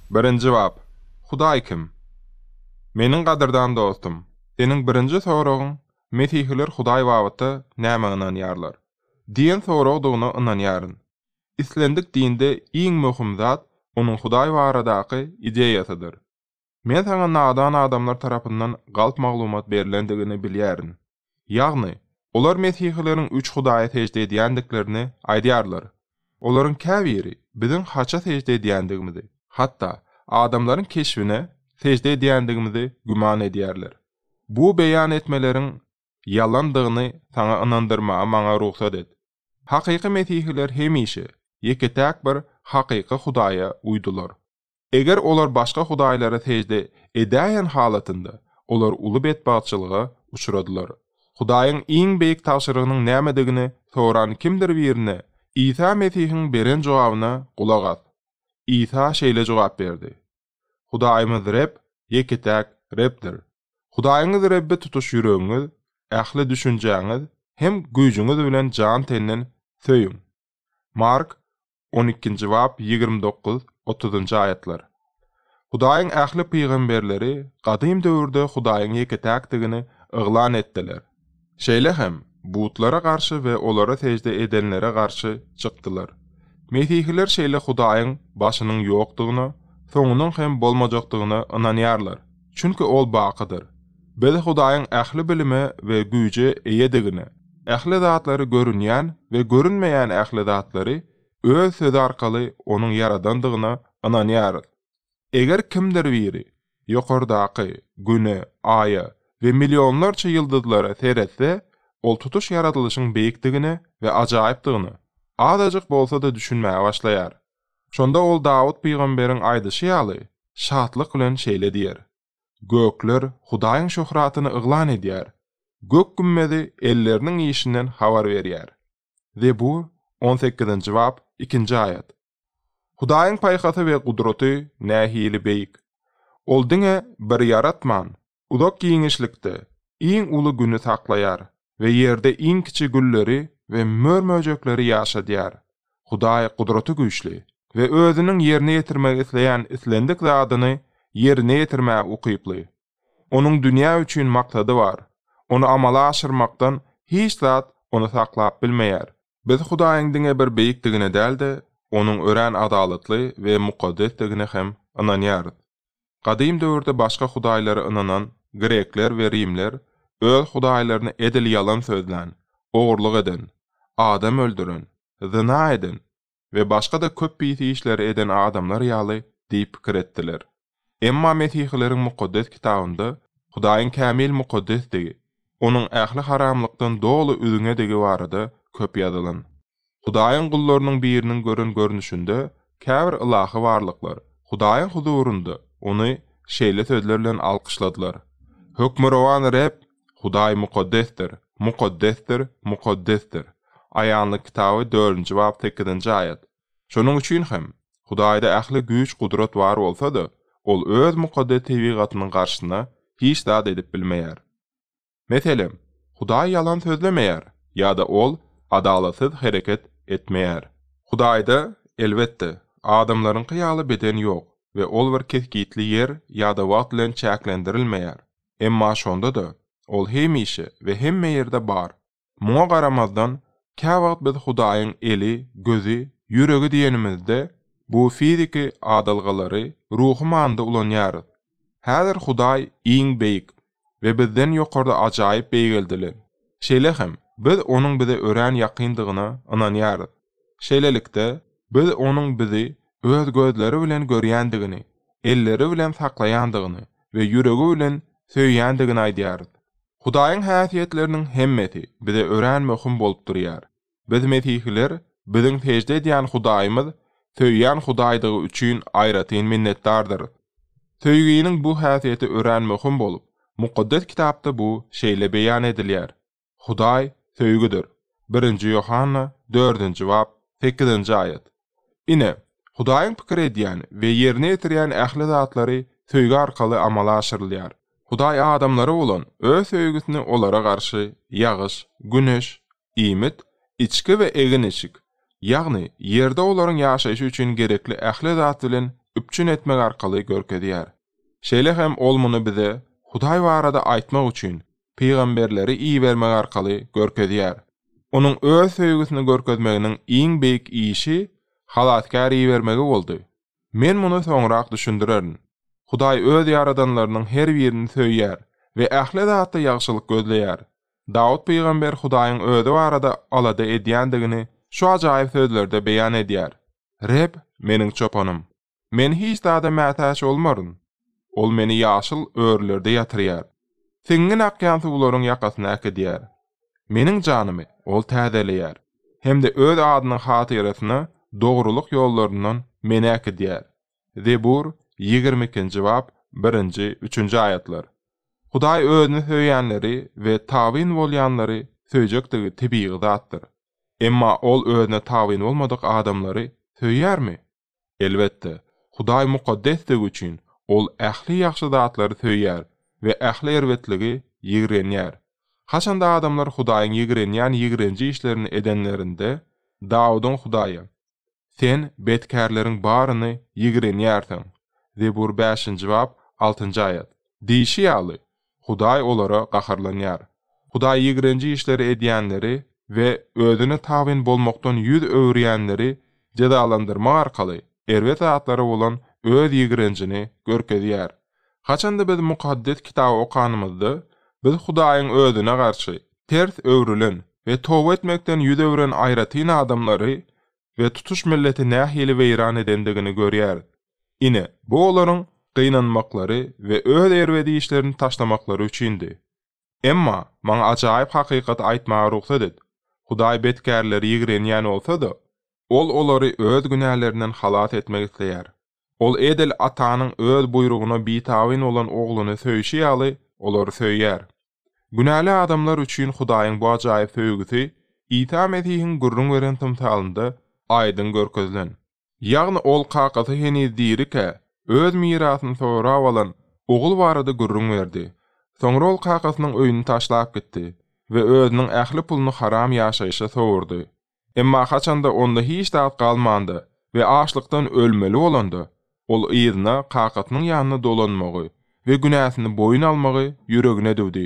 Birinji bap, Hudaý kim? Meniň gadyrdan dostum, seniň birinji soragyň Mesihiler Hudaý babatda nämä ynanýarlar? diýen soragdygyna ynanýaryn. Islendik dinde iň möhüm zat onuň Hudaý baradaky ideýasydyr. Men saňa nadan adamlar tarapyndan galp maglumat berlendigini bilýärin. Ýagny, olar mesihileriň üç hudaýa sežde edýändiklerini aýdýarlar. Olaryň käbiri biziň haça sežde edýändigimizi, hatda adamlaryň keşbine sežde edýändigimizi güman edýärler. Bu beýan etmeleriň ýalandygyny saňa ynandyrmaga maňa rugsat et. Hakyky mesihiler hemişe ýeke-täk bir hakyky Hudaýa uýdular. Eger olar başga hudaýlara sežde edäýen halatynda, olar uly betbagtçylyga uçradylar. Hudaýyň iň beýik tabşyrygynyň nämedigini soran kimdir birine, Isa Mesihiň beren jogabyna gulak as. Isa şeýle jogap berdi, Hudaýymyz Reb ýeke-täk Rebdir. Hudaýyňyz Rebbi tutuş ýüregiňiz, ähli düşünjäňiz hem güýjüňiz bilen jan-tenden söýüň. Mark On ikinji bap, ýigrimi dokuz, otuzynjy aýatlar. Hudaýyň ähli pygamberleri gadym döwürde Hudaýyň ýeke-täkdigini yglan etdiler. Şeýle hem, butlara garşy we olara sežde edenlere garşy çykdylar. Mesihiler şeýle Hudaýyň başynyň ýokdugyna, soňunyň hem bolmajakdygyna ynanýarlar. Çünki Ol bakydyr. Biz Hudaýyň ähli bilime we güýje eýedigini, ähli zatlary görünýän we görünmeýän ähli zatlary Öz Sözi arkaly Onuň ýaradandygyna ynanýarys. Eger kimdir biri, ýokardaky, Güne, Aýa we millionlarça ýyldyzlara seretse, ol tutuş ýaradylyşyň beýikdigine we ajaýypdygyna azajyk bolsa-da düşünmäge başlaýar. Şonda ol Dawut pygamberiň aýdyşy ýaly, şatlyk bilen şeýle diýer, Gökler Hudaýyň şöhratyny yglan edýär, gök gümmezi elleriniň işinden habar berýär. Zebur, on sekizinji bap, ikinji aýat. Hudaýyň paýhasy we gudraty nähili beýik! Ol diňe bir ýaratman, Uzak giňişlikde iň uly güni saklaýar we ýerde iň kiçi gülleri we mör-möjekleri ýaşadýar. Hudaý gudraty güýçli we Özüniň ýerine ýetirmegi isleýän islendik zadyny ýerine ýetirmäge ukyply. Onuň dünýä üçin maksady bar. Ony amala aşyrmakdan hiç zat Ony saklap bilmeýär. Biz Hudaýyň diňe bir beýikdigine däl-de, Onuň örän adalatly we mukaddesdigine hem ynanýarys. Gadym döwürde başga hudaýlara ynanan grekler we rimler öz hudaýlaryny edil ýalan sözlän, ogurlyk eden, adam öldüren, zyna eden we başga-da köp pis işleri eden adamlar ýaly diýip pikir etdiler. Emma mesihileriň Mukaddes Kitabynda Hudaýyň kämil mukaddesdigi, Onuň ähli haramlykdan doly üzňedigi barada köp ýazylan. Hudaýyň gullarynyň biriniň gören görnüşinde käbir ylahy barlyklar Hudaýyň huzurynda Ony şeýle sözler bilen alkyşladylar, Hökmürowan Reb, Hudaý mukaddesdir, mukaddesdir, mukaddesdir! Aýanlyk kitaby dördünji bap sekizinji aýat. Şonuň üçin hem, Hudaýda ähli güýç-gudrat bar bolsa-da, Ol Öz mukaddes tebigatynyň garşysyna hiç zat edip bilmeýär. Meselem, Hudaý ýalan sözlemeýär ýa-da Ol adalatsyz hereket etmeýär. Hudaýda, elbetde, adamlaryňky ýaly beden ýok we Ol bir kesgitli ýer ýa-da wagt bilen çäklendirilmeýär, emma şonda-da, Ol hemişe we hemme ýerde bar Muňa garamazdan, käwagt biz Hudaýyň eli, gözi, ýüregi diýenimizde, bu fiziki adalgalary ruhy manyda ulanýarys. Häzir Hudaý iň beýik we bizden ýokarda ajaýyp beýgeldilen. Şeýle hem, biz Onuň bize örän ýakyndygyna ynanýarys. Şeýlelikde, biz Onuň bizi Öz gözleri bilen görýändigini, elleri bilen saklaýandygyny we ýüregi bilen söýýändigini aýdýarys. Hudaýyň häsiýetleriniň hemmesi bize örän möhüm bolup durýar. Biz mesihiler biziň sežde edýän Hudaýymyz söýýän Hudaýdygy üçin aýratyn minnetdardyrys. Söýginiň bu häsiýeti örän möhüm bolup, Mukaddes Kitapda bu şeýle beýan edilýär, Hudaý söýgüdir, birinji Ýohanna dördünji bap sekizinji aýat. Ine, Hudaýyň pikir edýän we ýerine ýetirýän ähli zatlary söýgi arkaly amala aşyrylýar. Hudaý adamlara bolan Öz söýgüsini olara garşy ýagyş, güneş, iýmit, içgi we egin-eşik, ýagny ýerde olaryň ýaşaýşy üçin gerekli ähli zat bilen üpjün etmek arkaly görkezýär. Şeýle hem Ol muny bize Hudaý barada aýtmak üçin pygamberleri ibermek arkaly görkezýär. Onuň Öz söýgüsini görkezmeginiň iň beýik işi Halasgär ibermegi boldy. Men muny soňrak düşündirerin. Hudaý Öz ýaradanlarynyň her birini söýýär we ähli zatda ýagşylyk gözleýär. Dawut pygamber Hudaýyň Özi barada alada edýändigini şu ajaýyp sözlerde beýan edýär, Reb, meniň çopanym. Men hiç zada mätäç bolmaryn. Ol meni ýaşyl örülerde ýatyrýar. Siňňin akýan suwlaryň ýakasyna äkidýär. Meniň janymy Ol täzeleýär hem-de Öz adynyň hatyrasyna dogrulyk ýollaryndan meni äkidýär. Zebur, ýigrimi ikinji bap, birinji, üçünji aýatlar. Hudaý Özüni söýýänleri we tabyn bolýanlary söýjekdigi tebigy zatdyr. Emma Ol Özüne tabyn bolmadyk adamlary söýýärmi? Elbetde, Hudaý mukaddesdigi üçin, ol ähli ýagşy zatlary söýýär we ähli erbetligi ýigrenýär. Haçanda adamlar Hudaýyň ýigrenýän ýigrenji işlerini edenlerinde, Dawudyň Hudaýa, Sen betkärleriň baryny ýigrenýärsiň, Zebur bäşinji bap, altynjy aýat, diýşi ýaly, Hudaý olara gaharlanýar. Hudaý ýigrenji işleri edýänleri we Özüne tabyn bolmakdan ýüz öwürýänleri jezalandyrmak arkaly erbet zatlara bolan Öz ýigrenjini görkezýär. Haçan-da biz Mukaddes Kitaby okanymyzda, biz Hudaýyň Özüne garşy ters öwrülen we toba etmekden ýüz öwren aýratyn adamlary we tutuş milleti nähili weýran edendigini görýäris. Ine, bu olaryň gynanmaklary we öz erbet işlerini taşlamaklary üçindi. Emma, maňa ajaýyp hakykaty aýtmaga rugsat et, Hudaý betkärleri ýigrenýän bolsa-da, Ol olary öz günälerinden halas etmek isleýär. Ol edil atanyň öz buýrugyna bitabyn bolan ogluny söýşi ýaly, olary söýýär. Günäli adamlar üçin Hudaýyň bu ajaýyp söýgüsi Isa Mesihiň gürrüň beren tymsalynda aýdyň görkezilen. Ýagny ol kakasy heniz dirikä, öz mirasyny sorap alan ogul barada gürrüň berdi. Soňra ol kakasynyň öýüni taşlap gitdi we özüniň ähli puluny haram ýaşaýşa sowurdy. Emma haçanda onda hiç zat galmanda we açlykdan ölmeli bolanda, ol yzyna kakasynyň ýanyna dolanmagy we günäsini boýun almagy ýüregine düwdi.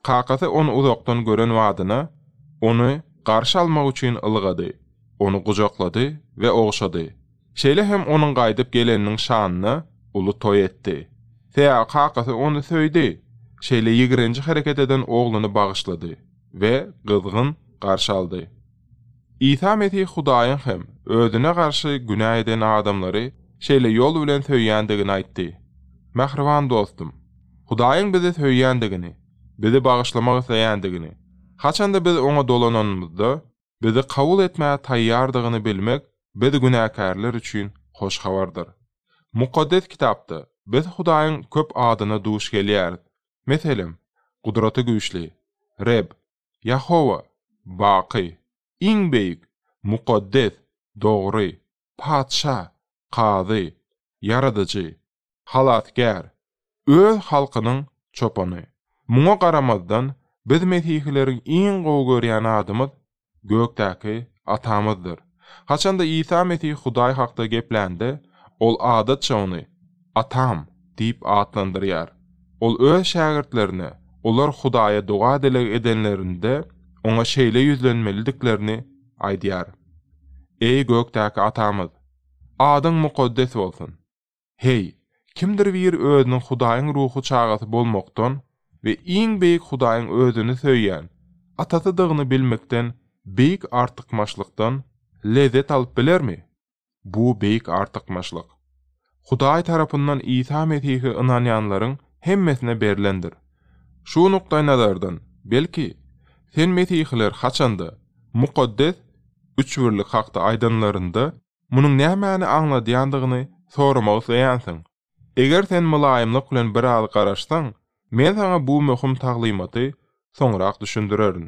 Kakasy ony uzakdan gören badyna, ony garşy almak üçin ylgady, ony gujaklady we ogşady. Şeýle hem onuň gaýdyp geleniniň şanyna uly toý etdi. Sea kakasy ony söýdi, şeýle ýigrenji hereket eden ogluny bagyşlady we gyzgyn garşy aldy. Isa Mesih Hudaýyň hem özüne garşy günä eden adamlary şeýle ýol bilen söýýändigini aýtdy. Mähriban dostum, Hudaýyň bizi söýýändigini, bizi bagyşlamak isleýändigini, haçanda biz Oňa dolananymyzda, bizi kabul etmäge taýýardygyny bilmek biz günäkärler üçin hoş habardyr. Mukaddes Kitapda biz Hudaýyň köp adyna duş gelýäris. Meselem, Gudraty Güýçli, Reb, Ýehowa, baky, iň beýik, mukaddes, dogry, Patyşa, Kazy, Ýaradyjy, Halasgär, Öz halkynyň Çopany. Muňa garamazdan, biz mesihileriň iň gowy görýän zadymyz Gökdäki Atamyzdyr. Haçan-da Isa Mesih Hudaý hakda geplände, ol adatça ony Atam diýip atlandyrýar. Ol öz şägirtlerine olar Hudaýa doga-dileg edenlerinde oňa şeýle ýüzlenmelidiklerini aýdýar, Eý, gökdäki Atamyz! Adyň mukaddes bolsun! Heý, kimdir biri özüniň Hudaýyň ruhy çagasy bolmakdan we iň beýik Hudaýyň özüni söýýän Atasydygyny bilmekden beýik artykmaçlykdan lezzet alyp bilermi? Bu beýik artykmaçlyk Hudaý tarapyndan Isa Mesihe ynanýanlaryň hemmesine berlendir. Şu nukdaýnazardan, belki, sen mesihiler haçanda Mukaddes Üçbirlik hakda aýdanlarynda Munuň nämäni aňladýandygyny soramak isleýänsiň. Eger sen mylaýymlyk bilen biraz garaşsaň, men saňa bu möhüm taglymaty soňrak düşündirerin.